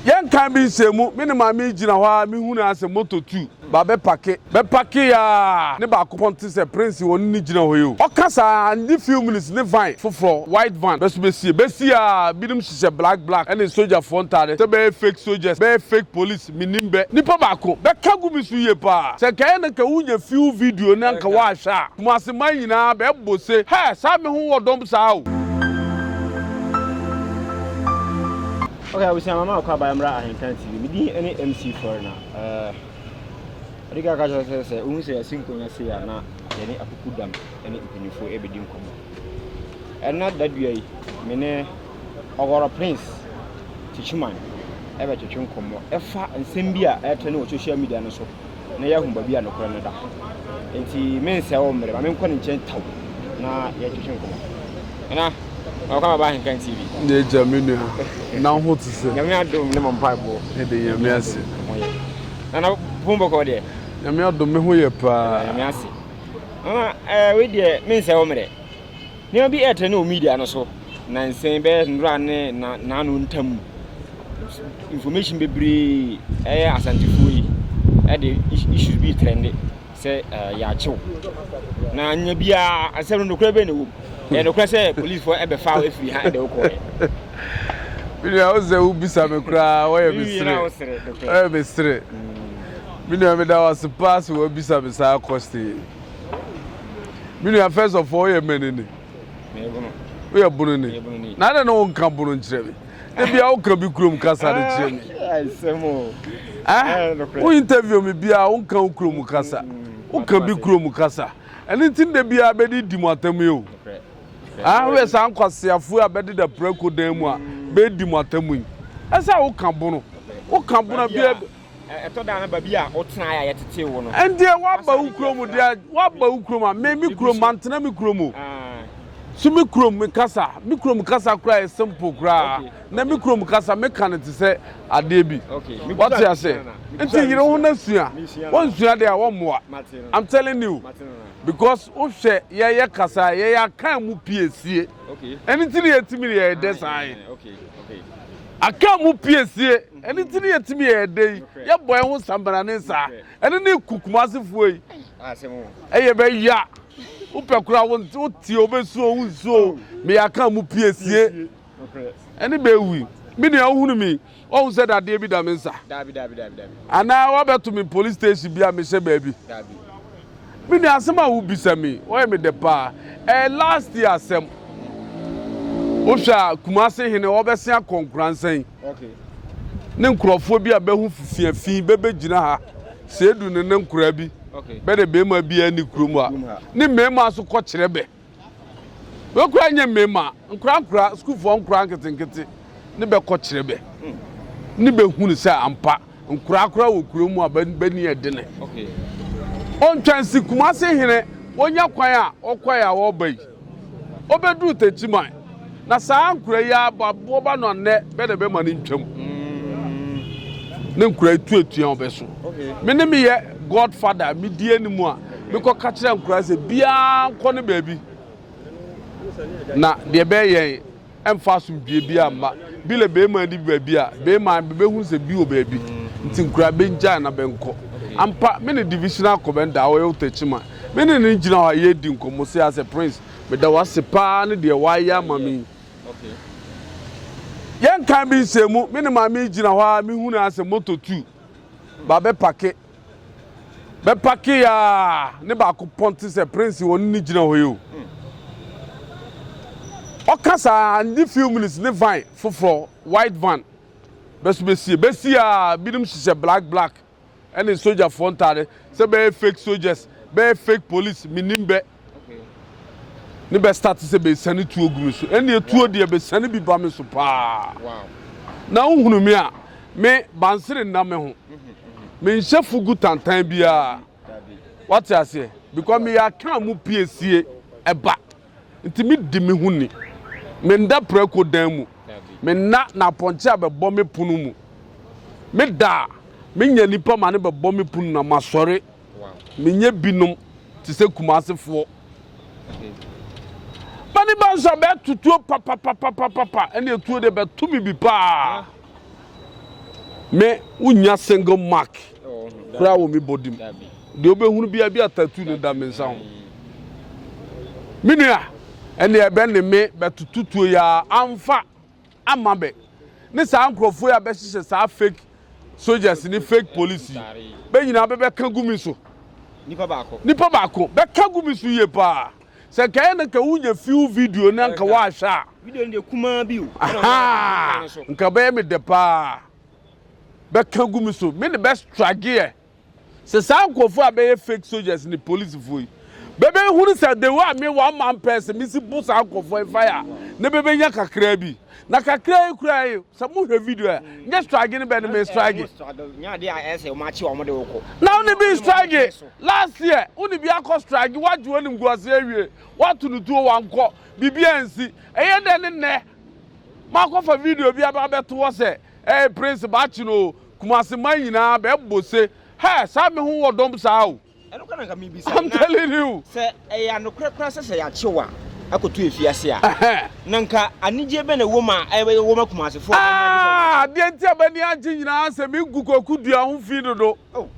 Yɛn kan bi nsɛm mu, me ne Maame yi gyina hɔ ara, me hunu ara sɛ moto tu ba bɛ pake. Bɛ pake yɛ ara, ne baako pɔn te sɛ Prince wɔn ne gyina hɔ yi o. Ɔka saa a, annye few minutes ne van foforɔ, white van, bɛ so bɛsie. Bɛ sie ara, binom hyehyɛ black black ɛne sogyafoɔ ntaade, sɛ bɛyɛ fake soldiers, bɛyɛ fake police, me nim bɛ. Nipa baako, bɛ ka gu me so yie pa ara. Sɛ nka ɛyɛ na nka wo nya few video na nka wa hwɛ a, Kumasi man nyinaa bɛ bɔ se, hɛ, saa me ho wɔ dɔm saa o. Ok abusua mama akɔ abaya mmra ahenkan TV me din ne MC Foreigner eh ɔde ka kakyɛ sɛ sɛ wohu sɛ yɛasi nkonnwa sei a na yɛne akuku dam ne mpanyinfoɔ ɛbɛdi nkɔmmɔ ɛna dadua yi me ne Ɔwɔrɔ Prince Kyikyman ɛbɛtwetwe nkɔmmɔ ɛfa nsɛm bi a ɛtrɛ ne wɔ social media no so na yɛahu baabi a nokorɛ no da. Enti merensɛe wo mmerɛ. Ma menkɔ ne nkyɛn tau na yɛntwetwe nkɔmmɔ. Nana, welcome baba ahenkan TV. Ne agya me nua, na wo ho te sɛ? Nyame adom ne mo mpaebɔ. Yɛde Nyame ase. Mo yɛ. Nana, bo bɔkɔɔ deɛ? Nyame adom me ho yɛ paa. Yɛda Nyame ase. Nana, eh, wei deɛ mensɛe wo mmerɛ. Nneɛma bi ɛretrɛ ne wɔ media no so nansa yi bɛyɛ nnora ne naano ntam mu. Information bebree ɛyɛ asantefoɔ yi ɛde issues bi trɛnde sɛ eh, yɛakyew. Na nya biara asɛm no nokorɛ bɛn na ɛwɔ mu. Ɛyɛ nokorɛ sɛ policefoɔ ɛbɛfa wo afiri ha ɛde wo kɔɛ. Menua wo sɛ wobisa me koraa wɔyɛ me sere. Wɔyɛ me sere. Menua meda wo ase paa sɛ wɔabisa me saa question yi. Me nua first of all yɛ mɛni ni. Woyɛ bono ni. Na adɛ na wonka bono nkyerɛ me. Da bia woka bi kurom kasa de kyerɛ me. Eh? Wo interview me bia wonka wo kurom kasa. Woka bi kurom kasa. Ɛno nti da bia bɛde di mo atam yi o. Ah, woyɛ saa nkwaseafoɔ a bɛde da prako dan mu a bɛdi mo atam yi. Ɛsɛ a woka bono. Woka bono bia Ɛtɔ da a na baabi a wotenae a yɛtetee wo no. Ɛnde woaba wo kurom o deɛ, woaba wo kurom a, me me kurom, mantena me kurom o. So me kurom me kasa, me kurom kasa koraa yɛ simple koraa. Na me kurom kasa meka no te sɛ adeɛ bi. Wate aseɛ? Nti yere wo ho na sua. Woansua deɛ a, wɔmmoa. I'm telling you. Because wohwɛ yɛyɛ kasa a, yɛyɛ akan mu piesie. Ɛno nti na yɛtumi de yɛyɛ dɛ saa yi. Akan mu piesie. Ɛno nti ne yɛtumi yɛɛ dɛ yi, yɛbɔ yɛn ho sambarane saa. Ɛno ne ku Kumasefoɔ yi. Ɛyɛ bɛya. Wopɛ koraa wotie wobɛsuo wo nsuo meyɛaka mu pie sie. Ɛne bɛwi. Me nua wohunu mi ɔhu sɛ dadeɛ bi da me nsa. Anaa wabɛto me police station bi a mehyɛ baabi. Me nua asɛm a wobisa mi ɔyɛ me dɛ paa. Ɛyɛ last year asɛm. Wohwɛ a Kumase hene wɔbɛse akɔ Nkoransɛn. Ne nkurɔfoɔ bi a bɛho fifia fi bɛbɛgyina ha sɛ edu ne ne nkoraa bi bɛde bɛrima bi ani kurom ha ne mmarima so kɔkyerɛ bɛ bɛkora nyɛ mmarima nkora nkora sukuufoɔ nkora nketenkete ne bɛkɔkyerɛ bɛ ne bɛhunu sɛ ampa nkora kora wɔ kurom mu a bɛni ɛdene ɔntwansi kumase hene wɔnya kwan a ɔkwae a wɔba yi Obeduru Techiman, na saa nkura yi ara ba boba no anɛ bɛ na bɛma no ntwam. Ne nkura yi tu atua ɔbɛ so. Me ne meyɛ God father, medi anim a, mekɔ ka kyerɛ nkura sɛ biara nkɔ ne baabi. Na deɛ bɛyɛ yɛn. Ɛmfa asomdwie biara mma. Bi le beema di baabi a, beema bebehunu sɛ bi wɔ baabi, nti nkura bengyae na benkɔ. Ampa, me ne Divisional Commander a ɔyɛ Otakyima, me ne no gyina hɔ a yɛredi nkɔmmɔ sei ara sɛ, Prince, meda wo ase paa ne deɛ woayɛ ama me yi. Yɛnkan bi nsɛm mu, me ne Maame yi gyina hɔ ara, mehunu ara sɛ motor tu ba bɛpake. Bɛ pake aa ne baako pɔn te sɛ prince wɔne no gyina hɔ yi o. Ɔka saa a ne few minutes ne van foforɔ white van bɛ so bɛ sie. Bɛ sie aa binom hyehyɛ black black ɛne sogyafoɔ ntaade sɛ bɛyɛ fake sogyas bɛyɛ fake police mennim bɛ. Ne bɛ start sɛ bɛsiane tuo gu me so. Ɛnneɛ tuo deɛ bɛsiane bi ba me so paa. Na wohunu me a, me bansere nna me ho. Menhyɛ fugu tantan biara. Wate aseɛ? Because meyɛ akaa mu piesie ɛba. Nti medi me ho ni. Menda prako dan mu. Menna na apɔnkye a bɛbɔ me pono mu. Meda a, menya nipa ma ne bɛbɔ me pono na masɔre. Menyɛ binom te sɛ Kumasefoɔ. Mani ba nso a bɛto tuo papapapapapa ɛne etuo deɛ bɛto me bi paa. Me wonya single mark koraa wɔ me body mu. Deɛ wobɛhunu bi a bi a tattoo no da me nsa ho. Me nua ɛne ɛbɛ ne me bɛtoto tuo yɛ a amfa. ama bɛ ne saa nkurɔfoɔ yi a bɛhyehyɛ saa fake soldiers ne fake police yi bɛ nyinaa bɛbɛka gu me so nipa baako nipa baako bɛka gu me so yie paa sɛ nka yɛ na nka wonya few video na nka woahwɛ a video no deɛ kumaa bi o nka bɛyɛ me dɛ paa bɛka gu me so me ne bɛstrageɛ Sɛ saa nkorɔfoɔ a bɛyɛ fake soldiers ne policefoɔ yi bɛbɛhunu sɛ the way a me one man person mesi bo saa nkorɔfoɔ yi fire a na bɛbɛnya kakraa bi na kakraa yi koraa yi sɛ mohwɛ video a nyɛ strage ne bɛ ne me strage na wone bi strage last year wone bi akɔ strage woagye woanim gu ase awie woato no tuo wankɔ biribi ansi ɛyɛ dɛ ne nnɛ makɔfa video bi aba bɛto hɔ sɛ ɛyɛ prince baakye no kumase man nyinaa bɛ bɔ se hɛ saa me ho wɔ dɔm saa o I'm telling you sɛ ɛyɛ anokorɛ koraa sɛ sɛ yɛakye wo a akɔto afiase a na nka anigyeɛ bɛ na ɛwɔ mu a ɛbɛyɛ wɔma kumasefoɔ ah, adeɛ nti a bɛni agye nyinaa sɛ megu kwaku dua ho fi dodo oh.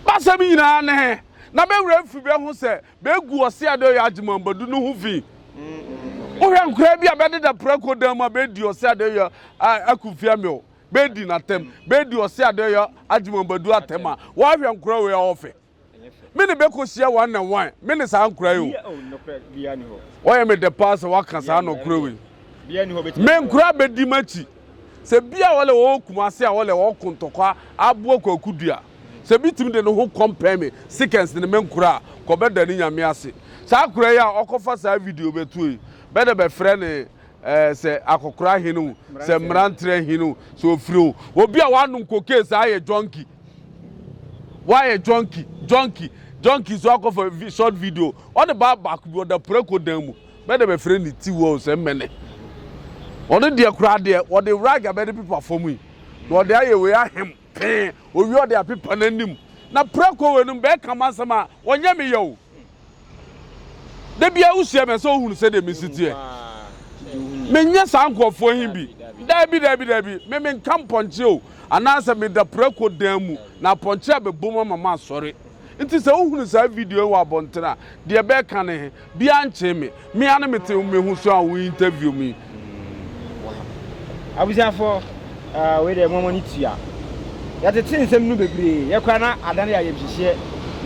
basɛm nyinaa ne he na bɛwerɛ afi bɛ ho sɛ bɛgu ɔse adeɛ ɔyɛ agye mambadu no ho fi wohwɛ nkoraa bi a bɛdeda prako dan mu a bɛdi ɔse adeɛ ɔyɛ akumfia me o Bɛdi no atɛm, bɛdi ɔse adɔeɛ Agyemɔbadu atɛm a Wɔahwɛ nkora wei a ɔfɛ Me ne bɛkɔhyia one ne one Me ne saa nkora yi o Wɔyɛ me dɛ paa sɛ wɔaka saa nɔkorɛ wei Me nkora bɛdi m'akyi Sɛ bi a wɔlɛ wɔwɔ Kumase a wɔlɛ wɔwɔ Kontɔkwa Aboa Kwaku Dua Sɛ bi tumi de ne ho kɔmpɛn me Seconds ne me nkora a Kɔbɛda ne Nyame ase Saa akora yi a ɔkɔfa saa video bɛtoɔ yi Bɛdɛ bɛfrɛ ne ɛɛ eh, sɛ akɔkora hen o sɛ mmeranterɛ hen o sɛ ofiri o obi a wanom cocaine saa yɛ junkie wayɛ junkie junkie junkie so akɔfa short video ɔde baa baako bi ɔda preko dan mu bɛdɛ bɛfrɛ ne ti wɔ sɛ mmɛnɛ ɔno deɛ koraa deɛ ɔde rag abɛde pepa fam yi na ɔde ayɛ wei ahem pee owie ɔde apepa n'anim na preko wei no bɛɛka ma nsɛm a ɔnyɛ meyɛ o Da biara wohyia me a sɛ wohunu sɛdeɛ mesi teɛ. Menyɛ saa nkurɔfoɔ he bi. Daabi, daabi, daabi. Me menka mpɔnkye o, anaasɛ meda prako dan mu na apɔnkye abɛbom ama masɔre. Nti sɛ wohunu saa video he wɔ abɔntene a, deɛ bɛɛka no he, biaa nkyee me. Me ara me te me ho so a wo interview me. Wow. Abusuafo, uh, wei de mo mo ni tua. Ya te te nsem no bebre, ya kwa na adane ya yemhyehye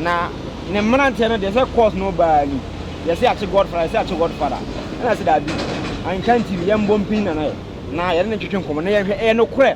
na ne mmerante no de sɛ course no baa ni. Ya se ache godfather, ya se ache godfather. Na se da bi. Anka ntimi yɛmbɔ mpin na na yɛ. Na yɛne ne ntwetwe nkɔmɔ na yɛhwɛ ɛyɛ no korɛ.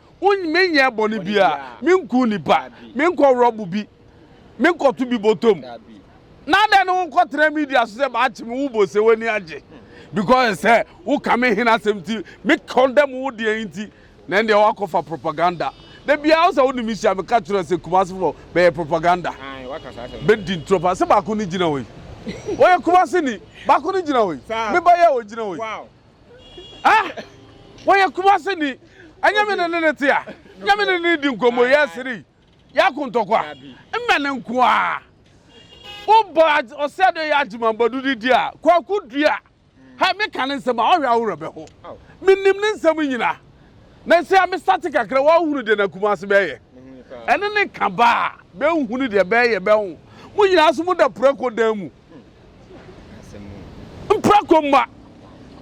Menyɛɛ bɔne biara, menkum nnipa, menkɔworɔ bo bi, menkɔto bi bɔtɔ mu. Na adɛn ne wonkɔtena media so sɛ maakye me wo bo sɛ w'ani agye because sɛ woka me hene asɛm nti me condemn wo deɛ nti na ɛndeɛ woakɔfa propaganda da biara wo sɛ wo ne me hyia meka kyerɛ sɛ Kumasi fɔ bɛyɛ propaganda bɛdi ntorɔ paa sɛ baako ne gyina hɔ yi wɔyɛ Kumasi ni baako ne gyina hɔ yi me ba yɛ wɔ gyina hɔ yi Ah! Wɔyɛ kumase ni. Ɛnyɛ me ne ne ne te a. Nyɛ me ne ne di nkɔmmɔ yɛ asiri. Yɛ ako ntɔkwa. Mmɛ ne nko a. Wobɔ ɔsɛ de yɛ agyemambɔdo de di a, kwaku dua. Hɛ, meka ne nsɛm a, ɔhwɛ a wo werɛ bɛho. Menim ne nsɛm nyina. Na sei a mesate kakra, woahunu deɛ na kumase bɛɛyɛ. Ɛne ne ka ba a, bɛnhunu deɛ bɛɛyɛ bɛho. Mo nyina nso moda prako dan mu. Mprako mma,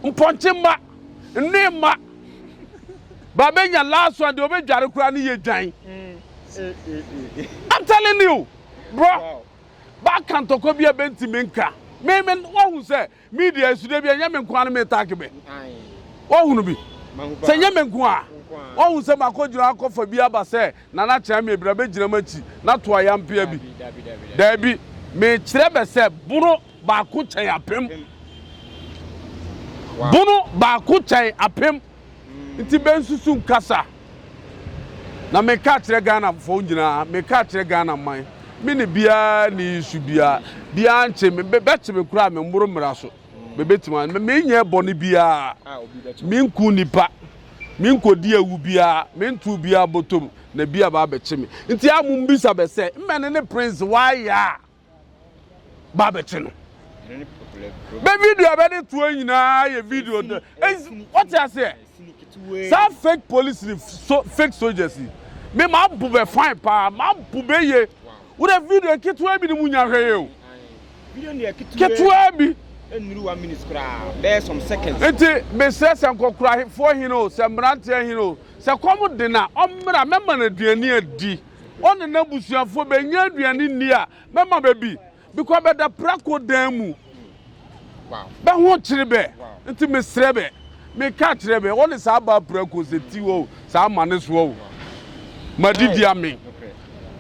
mpɔnkye mma, nne mma. Ba bɛnya last one deɛ ɔbɛdware koraa ne yɛ dwan. I'm telling you bro ba ka ntɔkwa bi a bɛntumi nka me me wahu sɛ media esu da bi ɛnyɛ me nko ara me taaki bɛ wahunu bi sɛ nyɛ me nko a wahu sɛ makɔ gyina akɔfa bi aba sɛ Nana Kyamie, bra bɛgyina m'akyi na to ayampea bi. Daabi, mekyerɛ bɛ sɛ bono baako kyɛn apem. Bono baako kyɛn apem. Nti bɛnsusu nkasa. Na meka akyerɛ Ghanafoɔ nyinaa, meka akyerɛ Ghana man, me ne biara nni issue biara, biara nkye me, bɛkye me koraa a menworo mmara so. mebetumi a menyɛ bɔne biara, minkum nnipa, minkodi awu biara, mentow biara bɔtɔm, na bi aba abɛkye me. Nti a mo mbisa bɛ sɛ, mmɛne ne prince wayɛ a ba abɛkye no? Bɛ video a bɛde toɔ nyinaa yɛ video. Wɔte aseɛ? Saa fake police ni so fake soldiers yi me ma bu bɛ fine paa ma bu bɛ ye wura video ketewa bi ni mu nya hwɛ ye o ketewa bi nnuru one minute koraa bɛyɛ some seconds nti mesrɛ sɛ nkɔkorafoɔ hene o sɛ mmeranteɛ hene o sɛ kɔm de na ɔmmra mɛma no aduane adi ɔne n'abusuafoɔ bɛnya aduane nni a mɛma bɛbi Bikɔ bɛ da prako dan mu bɛ ho kyere bɛ nti me serɛ bɛ me ka kyerɛ bɛ wɔne saa baa prako sɛ ti wɔ saa ma ne soɔ o ma di di ame.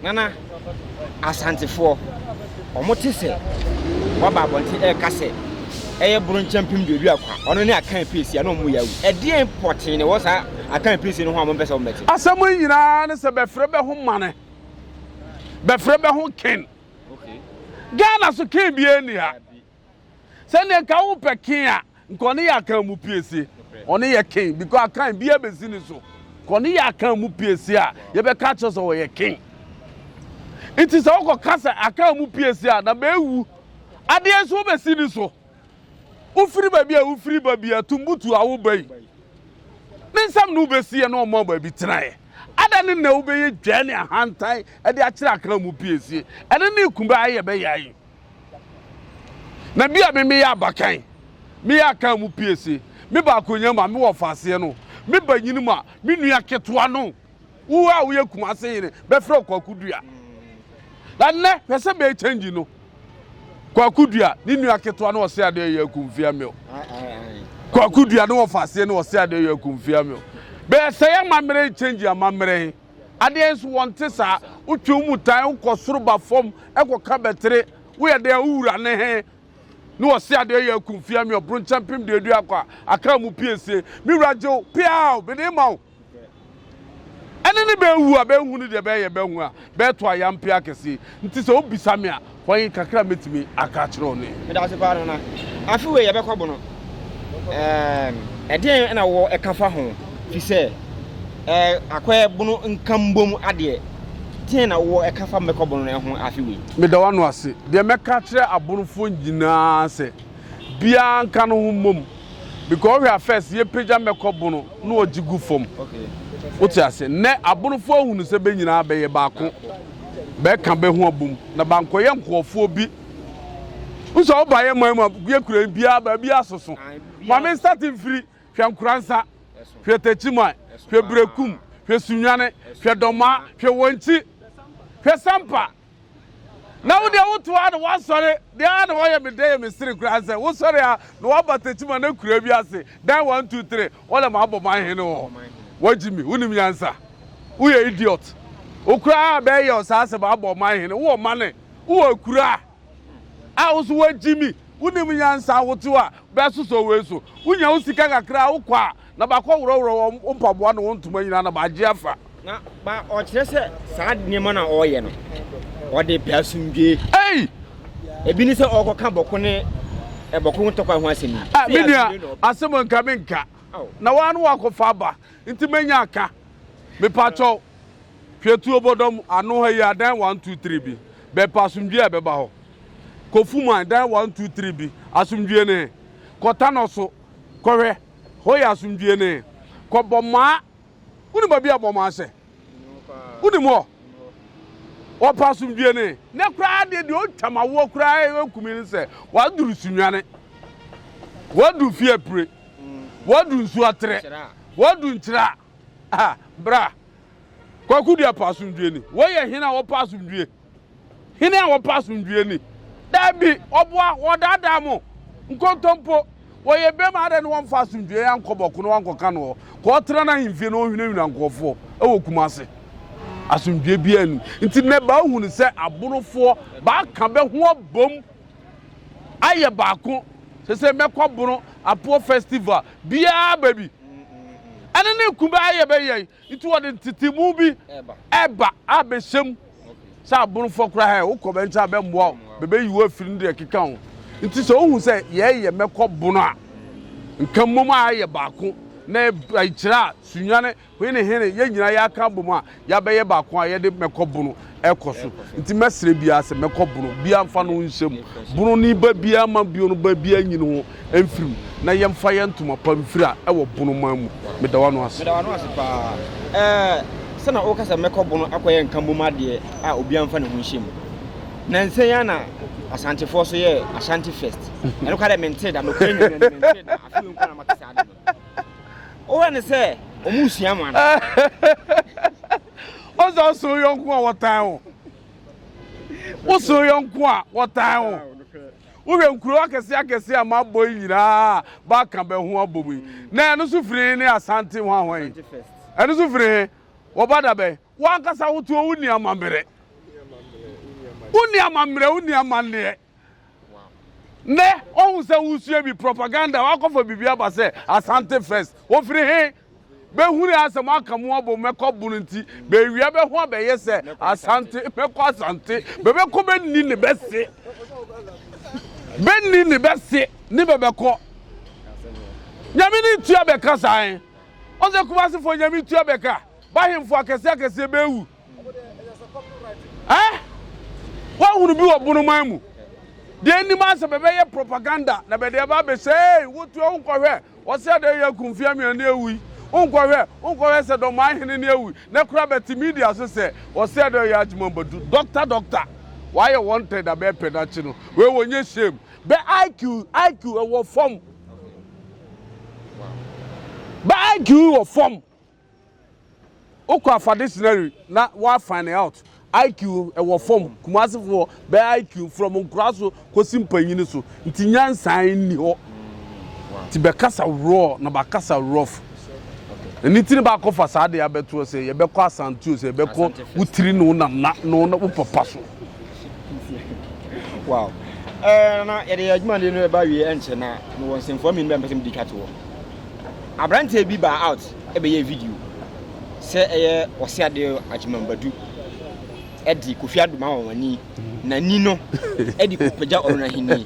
Nana Asantefoɔ ɔmo te sɛ waba abɔnten ɛreka sɛ ɛyɛ bronkyɛ mpem duadu akwa ɔno ne akan piesie a na ɔmo yɛ awu ɛdeɛn pɔtee na ɛwɔ saa akan piesie no ho a ɔmo mpɛ sɛ ɔmo bɛte. Asɛm yi nyinaa ne sɛ bɛfrɛ bɛ ho mane bɛfrɛ bɛ ho ken Ghana so ken biaa nni ha. Sɛ neɛ nka wo pɛ ken a nka ɔne yɛ akan mu piesie ɔne yɛ ken because akan biaa bɛsi ne so nka ɔne yɛ akan mu piesie a yɛ bɛ ka kyerɛ sɛ ɔyɛ ken nti sɛ wo kɔ ka sɛ akan mu piesie a na bɛ wu adeɛ nso wo bɛsi ne so. Wofiri baabi a wofiri ba bi a tumbutu a woba yi ne nsɛm na wobɛsiiɛ na wɔmaa baabi tenaeɛ. Adɛn ne na wobɛyɛ dwaa ne ahantan de akyerɛ akra mu piesie? Ɛno ne kumba a yɛbɛyaa yi. Na bi a me meyɛ abakan, meyɛ akra mu piesie, me baakonya mu a mewɔ ɔfaaseɛ no, me banyini mu a me nua ketewa no. Wo a woyɛ Kumase hene bɛfrɛ wo Kwaku Dua. Na nnɛ hwɛ sɛ bɛyɛ kyɛngyi no. Kwaku Dua ne nua ketewa no ɔse adeɛ yɛ akumfia mil. Kwaku Dua ne wɔfa aseɛ no ɔse adeɛ yɛ akumfia mil. Bɛyɛ sɛ yɛ amammerɛ yi kyɛngyi amammerɛ he. Adeɛ nso wɔnte saa. Wotwe wo mu tan wokɔ soro ba fam kɔka bɛtere. Woyɛ dɛn a wo wura ne he ne ɔse adeɛ yɛ akumfia mil. Bronkyɛmpem deɛ adu akɔ a aka mu piesie. Me wura gye wo peaw mede ma wo. Ɛne ne bɛawu a bɛnhunu deɛ bɛyɛ, bɛahu a bɛɛto ayampe akɛseɛ. Nti sɛ wobisa me a, hwan kakra mɛtumi aka akyerɛ wo ne. Meda wo ase paa Nana. Afe wei yɛbɛkɔ bo no, ɛɛm, ɛdeɛn na wowɔ ɛka fa ho? Firi sɛ, ɛɛ, akɔɛ bo no nkambom adeɛ, deɛn na wowɔ ɛka fa mɛkɔ bo no ho afe wei? Meda w'ano ase. Deɛ mɛka akyerɛ abonofoɔ nyinaa ara sɛ, biara nka ne ho mmom. because ɔhwɛ a first yɛpagya mmɛkɔ bono na ɔgye gu fam wote ase nnɛ abonofoɔ ahunu sɛ bɛ nyinaa bɛyɛ baako bɛka bɛ ho abom na bankɔyɛ nkurɔfoɔ bi nso a wobaeɛ man mu a yɛkura biara baabi asoso ma me nsate mfiri hwɛ nkoransa hwɛ takyiman hwɛ berɛkum hwɛ sunwane hwɛ dɔmaa hwɛ wɔnkyi hwɛ sampa Na wo deɛ woto a na woasɔre deɛ a na wɔyɛ me dɛ yɛ me sere koraa sɛ wosɔre a na woaba Techiman akuraa bi ase dan one two three wɔlɛ mabɔ man hene wɔ hɔ wagyi me wonim nyansa woyɛ idiot wo koraa a bɛyɛ wo saa sɛ mabɔ ɔman hene wowɔ mane wowɔ akuraa a wo so wagyi me wonim nyansa wote a bɛsosɔ wei so wonya wo sika kakra a wokɔ a Na bɛakɔworɔworɔ wɔn mpaboa ne wɔn ntoma nyinaa na bɛagye afa. Na ba ɔkyerɛ sɛ saa nneɛma no a ɔreyɛ no, ɔde repɛ asomdwoe. Ei! Ebi ne sɛ ɔrekɔka bɔko ne ɛbɔko ho ntɔkwa ho asɛm yi. Ah, me nua, asɛm a nka menka. Na woa ne woakɔfa aba, nti manya aka. Mepakyɛw, hwɛ tuo bɔdɔm ano ha yi a, dan one, two, three bi. Bɛpɛ asomdwoe a ɛbɛba hɔ. Kɔ Fuman, dan one, two, three bi. Asomdwoe ne he? Kɔ Tanɔ so kɔhwɛ. Hɔ yɛ asomdwie ne. Kɔ Bɔmaa. Wonim baabi a Bɔmaa sɛ? Wonim hɔ? Wɔpɛ asomdwie ne. Nɛ koraa deɛ deɛ ɔtwam awoɔ koraa ɛkumi ne sɛ waduru Sunwane. Wadu fie apire. Wadu nsuo aterɛ. Wadu nkyira. Ah, bra. Kwaku deɛ pɛ asomdwie ni. Wei yɛ hene a wɔpɛ asomdwie. Hena a wɔpɛ asomdwoe ni? Dabi, wɔboa, wɔdaadaa mo. Nkontompo! Wɔyɛ bem ara na wɔmfa asomdwoe ankɔ bɔko na wɔankɔka no hɔ. Kɔɔtra n'ahemfie na ɔnhunahuna nkurɔfoɔ wɔ Kumasi. Asomdwoe biara nnim. Nti nnɛ baahu no sɛ Abonofoɔ baaka bɛho abom ayɛ baako. Sɛsɛ mɛkɔ Abono Apoɔ Festival biara baabi. Ɛne ne Kumba ayɛ bɛyɛn. Nti wɔde ntetemu bi ɛba abɛhyɛ mu sɛ aborofoɔ koraa hɛ wokɔ bɛn nkyɛn abɛmmoa wo bɛbɛyi wo afiri no deɛ ɛkeka ho nti sɛ wohu sɛ yɛyɛ mɛkɔ bono a nka mmom a yɛ baako na ɛkyerɛ a sunyane hene hene yɛn nyinaa yɛaka abom a yɛabɛyɛ baako a yɛde mɛkɔ bono ɛkɔ so nti mɛsrɛ biara sɛ mɛkɔ bono biara mfa no nhyɛ mu bono ne ba biara ma bio no ba biara nyini ho mfiri mu na yɛmfa yɛn ntoma pa mfiri a ɛwɔ bono man mu meda wano ase. Meda wano ase paa ɛɛ sɛna woka sɛ mɛkɔ bono akɔyɛ nka mbom adeɛ a obiara mfa ne ho nhyɛ mu nansa yi ana asantefoɔ so yɛ ashanti fest ɛno kora dɛ mentee da nokora nyina mentee da afei nko na mate saa ade no. Wowɛ ne sɛ ɔmo nsua mo ana? Ɔsɛ ɔsɛ yɔnko a wɔtan wo. Wosɛ yɔnko a wɔtan wo. Wohwɛ nkuro akɛse akɛse a mabɔ yi nyinaa baka bɛ ho abɔ mu yi. Na ɛno so firi ne Asante ho ahɔn yi. Ɛno so firi he wɔba da bɛn. Wankasa wotoɔ wonni amammerɛ. Wonni amammerɛ wonni amanneɛ. Nnɛ ɔhu sɛ wosua bi propaganda wakɔfa biribi aba sɛ Asante First. Wofiri he? Bɛhunu asɛ mo aka mo abom mɛkɔ bono nti bɛawia bɛho abɛyɛ sɛ Asante mɛkɔ Asante bɛbɛkɔ bɛnni ne bɛse bɛnni ne bɛse ne bɛbɛkɔ Nyame ne tua bɛka saa he? Ɔsɛ Kumase fo Nyame tua bɛka bahemfo akɛseɛ akɛseɛ bɛwu Eh? Woahunu bi wɔ bonoman mu? Deɛ nnim asɛ bɛbɛyɛ propaganda na bɛde ɛba abɛsɛ ei wotua wonkɔhwɛ wɔsɛ ada yi aku mfeɛ mmienu ne awui wonkɔhwɛ wonkɔhwɛ sɛ dɔmaa hene ne awui nɛ kora bɛte media so sɛ wɔsɛ ada yi agyema badu doctor doctor wɔayɛ wɔn tɛ da bɛɛpɛ dakye no wei wɔnyɛ shame bɛ IQ IQ ɛwɔ fam bɛ IQ wɔ fam Wokɔ afa dictionary na wa find out IQ ɛwɔ fam Kumasi foɔ bɛ IQ from nkura so kosi mpanyini so nti nyansa nni hɔ nti bɛ kasa raw na ba kasa rough ɛni ti ne ba kɔ fa saa de abɛtoɔ sɛ yɛ bɛkɔ asantio sɛ yɛ bɛkɔ wo tiri ne wo nana ne wo papa so. Wow. Eh, na yɛde yɛ adwuma de no ɛba wie ɛnkyɛ na mewɔ nsɛmfua mmienu bɛ mpɛ sɛ mede twa to hɔ. Aberanteɛ bi baa out bɛyɛɛ video sɛ ɛyɛ Ɔse Ade Agyemang Badu de Kofi Addo ma wɔn ani na ni no de kɔpagya ɔno n'ahennie.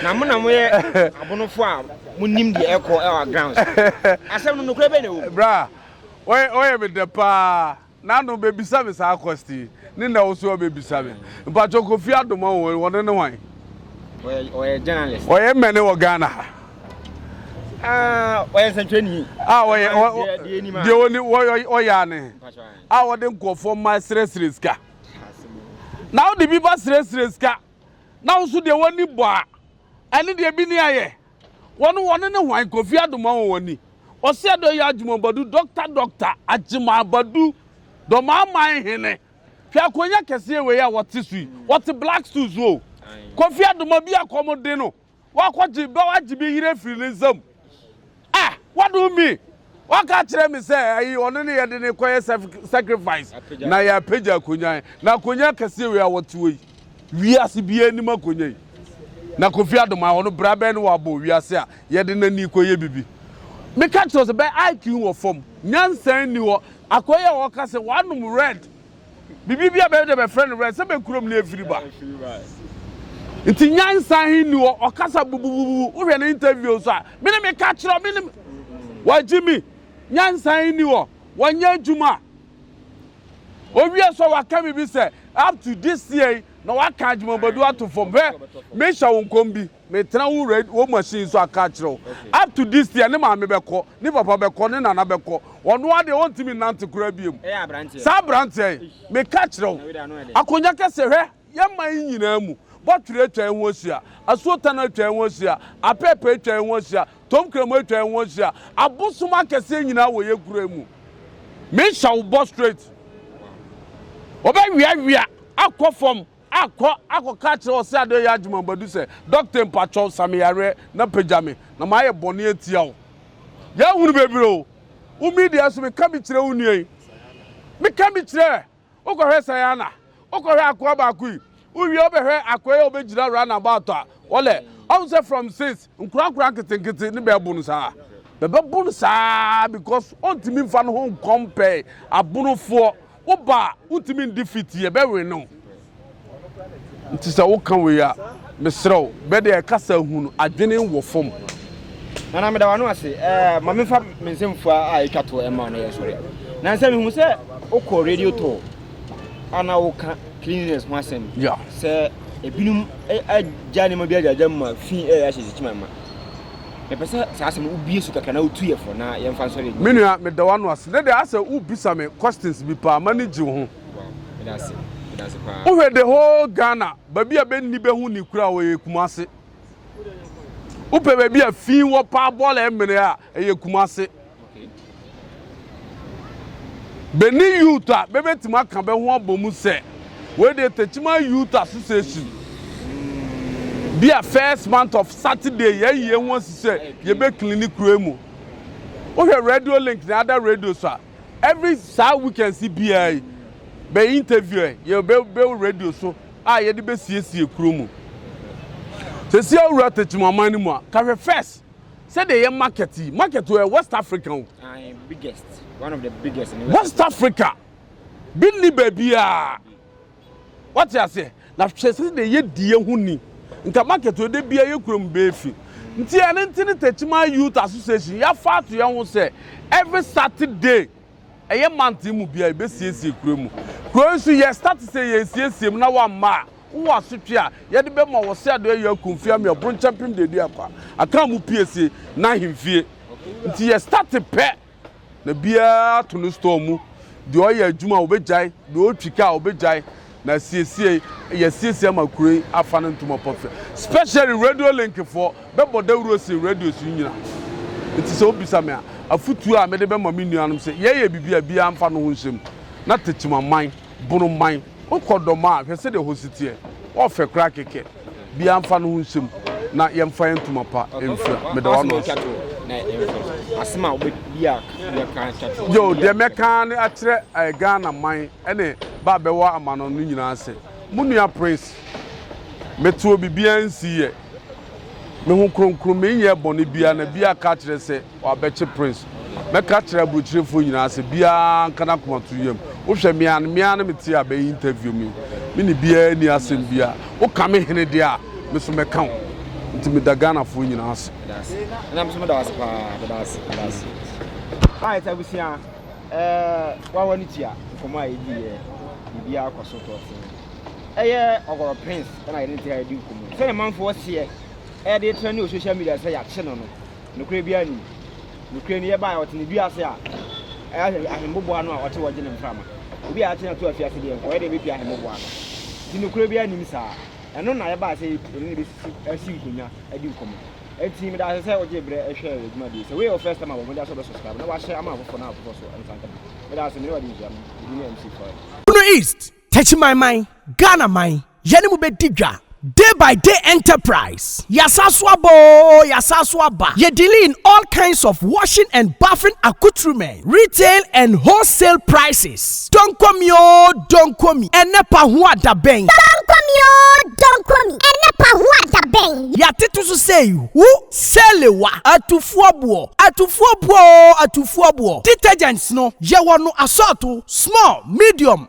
Na mo na moyɛ abonofo a monim deɛ ɛkɔ ɛwɔ grounds. Asɛm no nokorɛ bɛn na ɛwɔ mu? Bra, wɔyɛ me dɛ paa. Nano bebisa me saa kwasti yi ne nɛ wo so wɔ bebisa me mpakyɛw kofi adoma wɔ wɔne ne hwan. Ɔyɛ journalist. Ɔyɛ mɛne wɔ Ghana ha. Ɔyɛ nsɛntwerɛni. A ɔyɛ deɛ ɔni ɔyɛ ane a ɔde nkurɔfoɔ mma srɛsrɛ sika. Na wode bi ba srɛsrɛ sika na wo so deɛ w'ani bɔ a ɛne deɛ bi ne ayɛ. Wɔn wɔne ne hwan? Kofi Addo ma wɔn ani. Ɔse Addo yɛ adwuma Badu Doctor Doctor Agyemang Badu Dɔmaman hene Hwɛ akonya kɛseɛ wei a wɔte so yi Wɔte black stool so o Kofi Addo ma bi akɔmuden no Wakɔgye bɛ wagye bɛ yere afiri ne nsam Ah! Wado me! Waka kyerɛ me sɛ ayi ɔno ne yɛde ne kɔyɛ sacrifice na yɛapagya akonnwa na akonnwa kɛseɛ wei a wɔte wɔ yi wiase biara anim akonnwa yi na Kofi Adoma ɔno bra bɛn ne wɔabɔ wiase a yɛde n'ani kɔyɛ bibi meka kyerɛ sɛ bɛ IQ wɔ fam nyansa nni hɔ akɔyɛ wɔka sɛ wɔanom red Biribi bi a bɛyɛ dɛ bɛfrɛ no wɛn sɛ bɛ kurom na efiri ba. Nti nyansa he nni hɔ, ɔkasa bubububu, wohwɛ ne interview nso a, me ne meka kyerɛ wo, me ne Wɔagye me, nyansa he nni hɔ, wɔnyɛ adwuma a. Owie so a waka biribi sɛ up to this year yi na waka Agyemang Badu ato fam. Hwɛ, mehyɛ wo nkɔm bi. Metena wo rad wo machine so aka akyerɛ wo up to this year ne maame bɛkɔ ne papa bɛkɔ ne nana bɛkɔ ɔno ara deɛ ɔntumi nnante koraa biom saa aberanteɛ yi meka akyerɛ wo akonya kɛsɛ hwɛ yɛ man yi nyinaa mu bɔtwerɛ atwa yɛn ho ahyia asuo tano atwa yɛn ho ahyia apɛɛpɛ atwa yɛn ho ahyia tom kramo atwa yɛn ho ahyia abosom akɛseɛ nyinaa wɔ yɛ kura mu mehyɛ wo bɔ straight wɔbɛweawea akɔ fam Akɔ akɔka akyerɛ Ɔseadɔyɛ Agyemambadu sɛ, Dɔkta mpakyɛw sa me yareɛ na pagya me, na mayɛ bɔne atia wo. Yɛahunu bebree o. Wo me deɛ nso meka bi kyerɛ wo nua yi. Meka bi kyerɛ ɛ. Wokɔhwɛ Sayana, wokɔhwɛ akoa baako yi, wowie wobɛhwɛ akoa yi a ɔbɛgyina run about a, wɔlɛ, ɔhu sɛ from since Nkorakora nketenkete ne bɛɛbo no saa. Bɛbɛbo no saa ara because ɔntumi nfa ne ho nkɔmpɛɛ abonofoɔ. Woba a, wontumi ndefeat yɛ, bɛwe ne wo. Nti sɛ woka wei a, mesrɛ wo, bɛ deɛ kasa hu no, adwene wɔ fam. Nana meda w'ano ase. Ɛɛ ma menfa me nsɛmfua a etwa to ɛma wo na yɛ sɔre. Nansa mehu sɛ wokɔ radio tour a na woka cleanliness ho asɛm. Yeah. Sɛ Ebinom agya nneɛma bi agyagya mu ma fi ɛyɛ ahyɛ sikyiman ma. Mepɛ sɛ saa asɛm no wobie so kakra na wotu yɛ fo na yɛmfa nsɔre adwuma. Me nua, meda w'ano ase. Ne deɛ asɛ wobisa me questions bi paa, m'ani gye wo ho. Wow, meda ase. Meda ase paa. Wohwɛ the whole Ghana, baabi a bɛnni bɛ ho ni koraa wɔ yɛ Kumasi. Wopɛ baabi a fi wɔ paa bɔɔlɛ mmere a ɛyɛ Kumase. Benin youth a bɛbɛtumi aka bɛ ho abɔ mu sɛ wei deɛ Techiman Youth Association bi a first month of Saturday yɛayie ho asi sɛ yɛbɛkili ne kuro mu. Wohwɛ radio link ne ada radio so a Every saa weekends biara yi bɛ interview ɛ yɛ bɛ bɛ radio so a yɛde bɛ siesie kuro mu. Sɛsi awura tɛkyim aman no mu a ka hwɛ first sɛdeɛ yɛ market yi market o ɛ west Africa o. Ae biggest one of the biggest in west Africa. West Africa bi nni baabiara. Wate aseɛ? Na hwɛ sɛdeɛ yɛdi yɛn ho ni. Nka market wɔ da biara yɛ kurom bɛɛ fi. Nti ɛno nti ne Techiman Youth Association yɛafa ato yɛn ho sɛ every Saturday ɛyɛ month mu biara yɛbɛsiesie kuro mu. Kuro yi so yɛ start sɛ yɛresiesie mu na wamma a wowɔ asotwe a yɛde bɛma wɔ Seadɔ Ayia Akumfie Amea Ɔbronkyɛmpem Deduakwa Akanmu Piesie N'ahemfie. Nti yɛ start pɛ. na biara ato ne store mu. Deɛ ɔyɛ adwuma a ɔbɛgyae, deɛ ɔretwi kaa ɔbɛgyae. Na asiesie, yɛasiesie ama kuro yi afa no ntoma pa fɛ. Specially radio link foɔ, bɛbɔ dawuro sen radios yi nyina. Nti sɛ wobisa me a, afotuo a mede bɛma me nuanom sɛ, yɛyɛ biribi a biara mfa ne ho nhyɛ mu na tekyemaman, bonoman, Wo kɔ dɔm a hwɛ sɛdeɛ hɔ si teɛ wɔ fɛ koraa kɛkɛ biaa nfa no ho nhyɛ mu na yɛn fa yɛn ntoma pa nfira meda wano ase. Yoo deɛ mɛka ara ne akyerɛ eh, Ghana man ɛne ba a bɛwɔ amano no nyinaa sɛ mo nua Prince meteɔ bibiaa nsii yɛ me ho kronkron menyɛɛ bɔne biaa na biaa ka kyerɛ sɛ Wabɛkye Prince. Mɛka akyerɛ aburokyirefo nyinaa sɛ biara nka n'akoma to yam. Wohwɛ me a, me ara ne me te a bɛyɛ interview me yi. Me ne biara nni asɛm biara. Woka me hene deɛ a, me nso mɛka wo. Nti meda Ghanafoɔ nyinaa ase. Meda ase. Ɛna me nso meda wo ase paa. Meda ase. Meda ase. Alright abusua, eh, wawa no tua nkɔmmɔ a yɛdi yɛ, biribiara kɔ so tɔɔtee. Ɛyɛ Ɔgɔrɔ Prince ɛna yɛde ne taa di nkɔmmɔ yi. Sɛdeɛ manfoɔ seɛ ɛde tra ne wɔ social media sɛ yɛakye no no, Nokorɛ biara nni mu. Nokorɛ ni, yɛbaeɛ, ɔte ne dua ase a, ɛyɛ ahemmoboa no a ɔte hɔ gye ne mframa. Obi a yɛate no ato afiase deɛ nka ɔyɛ dɛn bɛpia ahemmoboa no? Enti nokorɛ biara nnim saa. Ɛno na yɛbaeɛ sɛ yɛne no bɛsisi asi nkonnwa adi nkɔmmɔ. Enti meda ase sɛ wogyee berɛ hwɛɛ yɛn dwumadie yi. Sɛ woyɛ wo first time a, bɔ mmɔden ara sɛ wobɛsubscribe na woahyɛ ama afoforɔ na afoforɔ nso nsa nka bi. Meda ase, me ne wo adi nhyiam. Me din ne MC Florence. Bono East, Techimanman, Ghana man, yɛne mo bɛdi dwa, Day by Day Enterprise, Yɛasan so aba oo, yɛasan so aba, yɛ dealing in all kinds of washing and bathing accoutrements, retail and wholesale prices, Donkomi oo, Donkomi, ɛnnɛ pa ho a da bɛn? Donkomi oo, Donkomi, ɛnnɛ pa ho a da bɛn? Yɛatete so sei, Hu, Salewa, Atufoɔ boɔ, Atufoɔ boɔ oo, Atufoɔ boɔ, Detergents no, yɛwɔ no asɔɔto, Small, Medium,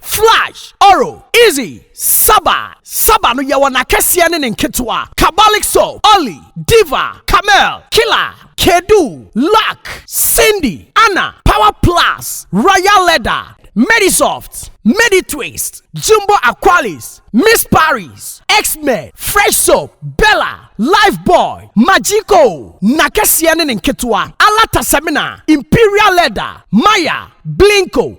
Flash, Oro, Izzy, Saba, Saba no yɛwɔ n'akɛseɛ ne ne nketewa, Kabalik Soap, Olly, Diva, Camel, Killer, Kedu, Luck, Cindy, Anna, Power Plus, Royal Leather, Medisoft, Meditwist, Jumbo Aqualis, Miss Paris, X-Men, Fresh Soap, Bella, Lifebuoy, Magico, n'akɛseɛ ne ne nketewa, Alata Semina, Imperial Leather, Maya, Blinko,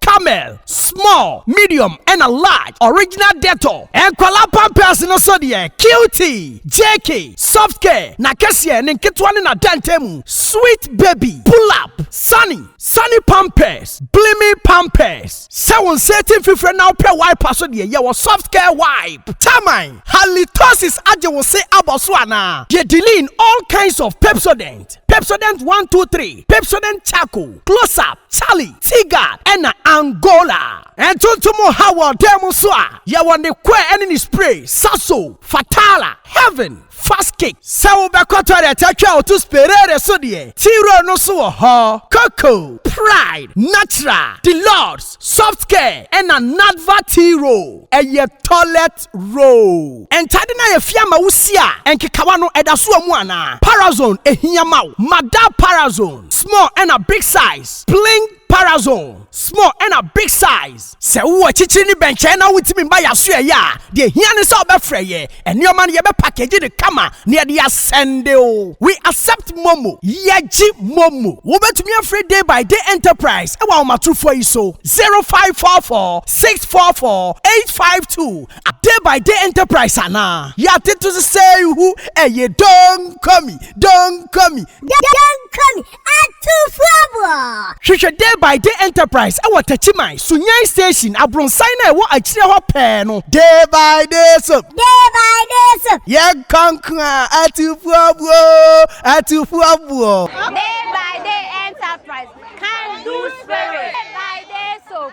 Camel, small, medium ɛna large, original Dettol, nkwadaa pampers no so deɛ cutie, JK, soft care, na kɛseɛ, ne nketewa ne n'adantan mu, sweet baby, pull up, sunny, sunny pampers, blimi pampers, sɛ wo nsa ati mfifire na wopɛ wiper so deɛ yɛwɔ soft care wipe, taman, halitosis agye wo se abɔ so anaa? Deɛ diline, all kinds of Pepsodent, Pepsodent one two three, Pepsodent charcoal, close up, Charlie Tigard na Angola. Ntontom ha wɔ dan mu nso a, yɛwɔ ne kɔɛ ne ne spray, Sasso, Fatala, Heaven, Fast Kick. Sɛ wobɛkɔ toilet atwa a woto Sperare so deɛ, T-Roll no nso wɔ hɔ. Coco, Pride, Natural, Deluxe, Soft Care na Nadva T-Roll yɛ toilet. First row. Ntade no a yɛafia ama wo si a nkekawa no da so wɔ mu anaa? Parazone ehia ma wo? Ma da Parazone small ɛna big size pling Parazone small ɛna big size. Sɛ wowɔ akyikyiri ne bɛnkyɛn na wontumi mma yɛn aso ɛyɛ a, deɛ ɛhia ne sɛ wobɛfrɛ yɛn. Nneɛma no yɛbɛ package no kama na yɛde asɛnde wo. We accept momo. Yɛgye momo. Wobɛtumi afrɛ Day by Day Enterprise wɔ ahomatorofoɔ yi so, 0544. six four four eight five two a day by day enterprise anaa yɛate to so sɛ hu ɛyɛ donkomi donkomi donkomi atufoɔboɔ hwehwɛ day by day enterprise ɛwɔ takyiman sunyan station abronsan na ɛwɔ akyire hɔ pɛɛ no day by day so day by day so yɛn kanko a atufoɔboɔ atufoɔboɔ day by day enterprise can do spirit day by day so